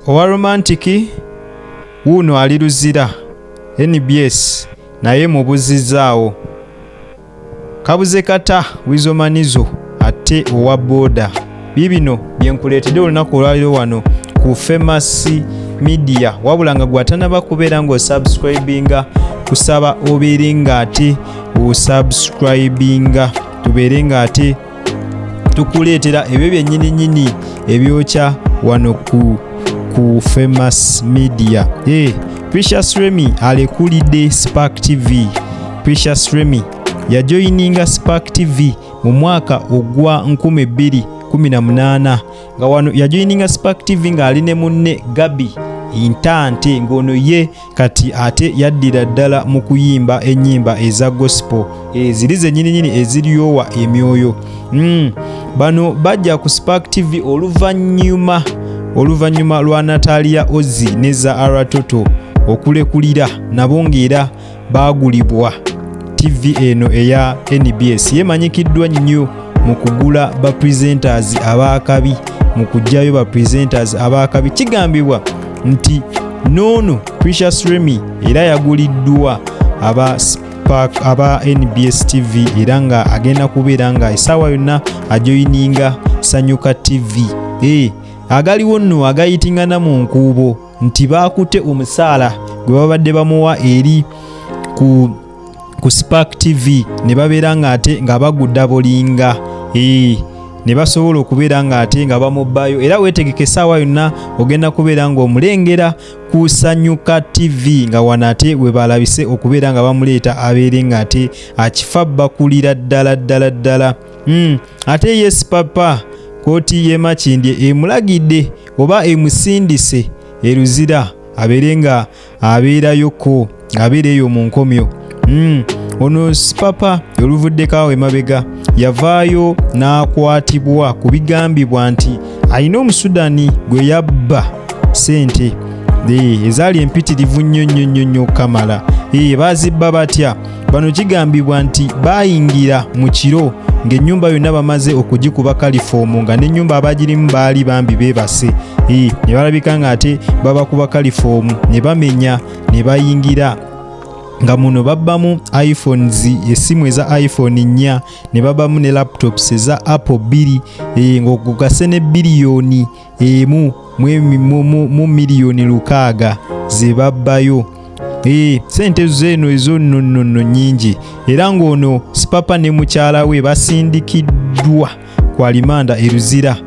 owa romantiki wuuno ali luzira nbs naye mubuzizaawo kabuze kata wizomanizo ate owa booda bibino byenkuleetedde olunaku olwaliro wano ku famous media wabula nga gwatanaba kubeera ngaosubscribinga kusaba obeere nga ate osubscribinga tubeere nga ate tukuleetera ebyo byennyini nyini ebyokya wano ku ku famous media hey, eh, precious remy alekulidde spark tv precious remy yajoyininga spark tv mu mwaka ogwa 2018 nga wano yajoyininga spark tv ng'ali ne munne gabi intante ng'ono ye kati ate yaddira ddala mu kuyimba ennyimba eza gospel eziri eh, zenyininyini eziryowa emyoyo hmm, bano bajja ku spark tv oluvannyuma oluvannyuma lwa natalia ozi ne zaara toto okulekulira nabo ng'era baagulibwa tv eno eya nbs yemanyikiddwa nnyo mu kugula ba presenters abaakabi mu kujjayo ba presenters abaakabi kigambibwa nti noono Precious Remy era yaguliddwa aba Park aba NBS TV era nga agenda kubeera nga esaawa yonna ajoyininga Sanyuka TV e, agaliwo nno agayitingana mu nkuubo nti baakute omusaala gwe babadde bamuwa eri ku ku spark tv ne babeera ng'ate nga bagudda bolinga ee ne basobola okubeera ng'ate nga bamubbayo era weetegeka essaawa yonna ogenda kubeera ng'omulengera kusanyuka tv nga wano ate we balabise okubeera nga bamuleeta abeere ng'ate akifa bakulira ddala ddala ddala hmm, ate yes papa kooti y'emakindye emulagidde oba emusindise eruzira abeere nga abeerayoko ng'abeera eyo mu nkomyo hmm, ono sipapa oluvuddeko awo emabega yavaayo n'akwatibwa ku bigambibwa nti alina omusudani gwe yabba sente ezaali empitirivu nnyo nnyo nnyo nnyo okukamala baazibba batya Bano kigambibwa nti baayingira mu kiro ng'ennyumba yonna bamaze okugikuba kalifoomu nga n'ennyumba abagirimu baali bambi beebase ne balabika ng'ate babakuba kalifoomu ne bamenya ne bayingira nga muno babbamu iphones esimu eza iphone nnya ne babbamu ne laptops eza apple bbiri eh, ng'okugase ne biliyoni emu mu miliyoni lukaaga ze babbayo ee sente zeeno ezo nonnono nyingi era ng'ono sipapa ne mukyala we basindikiddwa ku alimanda eruzira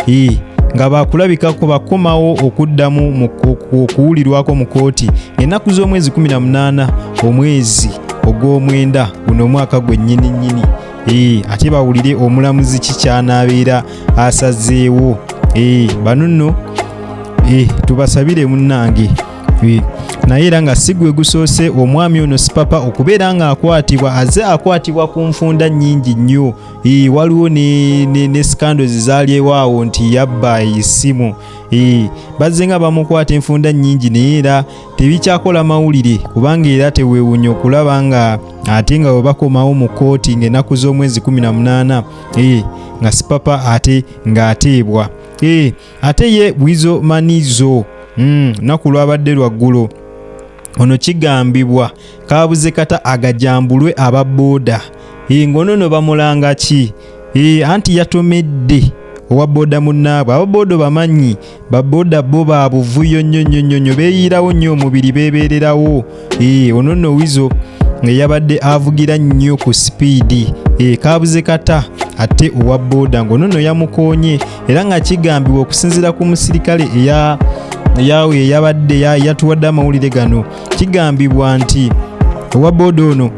ee nga bakulabikako bakomawo okuddamu okuwulirwako mu kooti ennaku z'omwezi 18 omwezi ogw'omwenda guno omwaka gwennyini nnyini ee ate bawulire omulamuzi kikyanabeera asazeewo eh, bano nno eh, tubasabire munnange eh, naye era nga sigwe gusoose omwami ono sipapa okubeera ng'akwatibwa aze akwatibwa ku nfunda nnyingi nnyo waliwo ne sikandos zalyewaawo nti yabba esimu bazze nga bamukwata enfunda nnyingi naye era tebikyakola mawulire kubanga era tewewunya okulaba nga ate nga bwe bakomawo mu kkooti ng'ennaku z'omwezi 18 ee nga sipapa ate ng'ateebwa ee ate ye bwizo manizo hmm, lunaku mm, lwabadde lwaggulo ono kigambibwa kaabuze kata agajambulwe aba booda ee ng'ono no bamulanga ki ee anti yatomedde owa booda munnaabwe aba booda bamanyi baboda bo ba buvuyo nnyo nnyo nnyo nnyo beeyiirawo nnyo omubiri beebeererawo ee ono nno wizo nga yabadde avugira nnyo ku sipiidi ee kaabuze kata ate owa boda ng'ono nno yamukoonye era nga kigambibwa okusinziira ku musirikale eya yawe eyabadde yatuwadde amawulire gano kigambibwa nti owa boda ono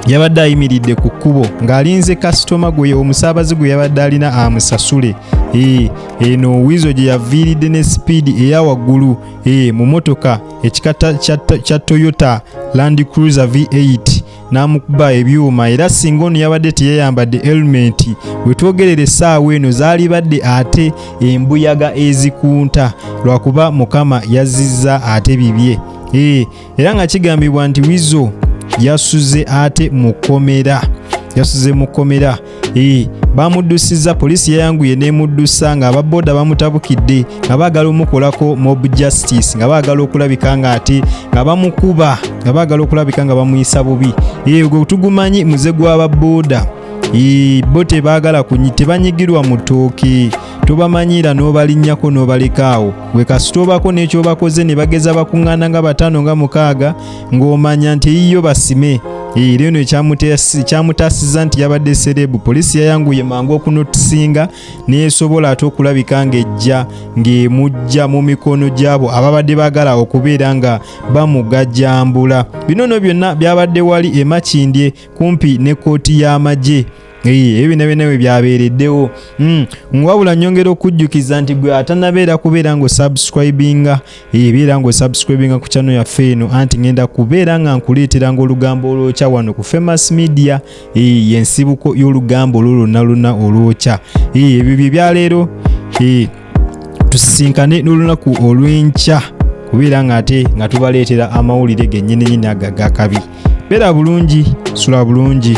yabadde ayimiridde ku kkubo ng'alinze kasitoma gwe omusaabazi gwe yabadde alina amusasule ee eno wizo gye yaviiridde ne sipiidi eya waggulu e mu motoka ekika kya toyota land cruiser v8 n'amukuba ebyuma era singa ono yabadde teyayambadde helumenti we twogerera essaawa eno zaalibadde ate embuyaga ezikunta lwakuba mukama yazzizza ate bibye ee eh, era nga kigambibwa nti wizo yasuze ate mu kkomera yasuze mu kkomera ee bamuddusizza poliisi yayanguye n'emuddusa nga ababoda bamutabukidde nga baagala omukolako mob justice nga baagala okulabika nga ate nga bamukuba nga baagala okulabika nga bamuyisa bubi ee gwe tugumanyi muze gw'ababoda ee bo tebaagala tebanyigirwa mu ttooke tobamanyiira n'obalinnyako n'obaleka awo gwe kasita obako n'ekyobakoze ne bageza bakuŋŋaana nga bataano nga mukaaga ng'omanya nti eyiyo basime era eno ekyamutaasiza nti yabadde serebu poliisi yayanguye mangu okunotusinga neesobola ate okulabika ng'ejja ng'emujja mu mikono gy'abo ababadde baagala okubeera nga bamugajambula bino no byonna byabadde wali emakindye kumpi ne kkooti y'amagye ebyo byonna byonna bwe byabeereddewo hmm. wabula nyongera okujjukiza nti gwe atanabeera kubeera ng'osubscribinga ebeera ng'osubscribinga ku kyano yaffe eno anti ngenda kubeera nga nkuleetera ng'olugambo olwokya wano ku famous media yensibuko y'olugambo olwo lwonna lwonna olwokya ebyo bye byaleero tusisinkane n'olunaku olw'enkya kubeera ng'ate nga tubaleetera amawulire gennyini nyini agagakabi beera bulungi sula bulungi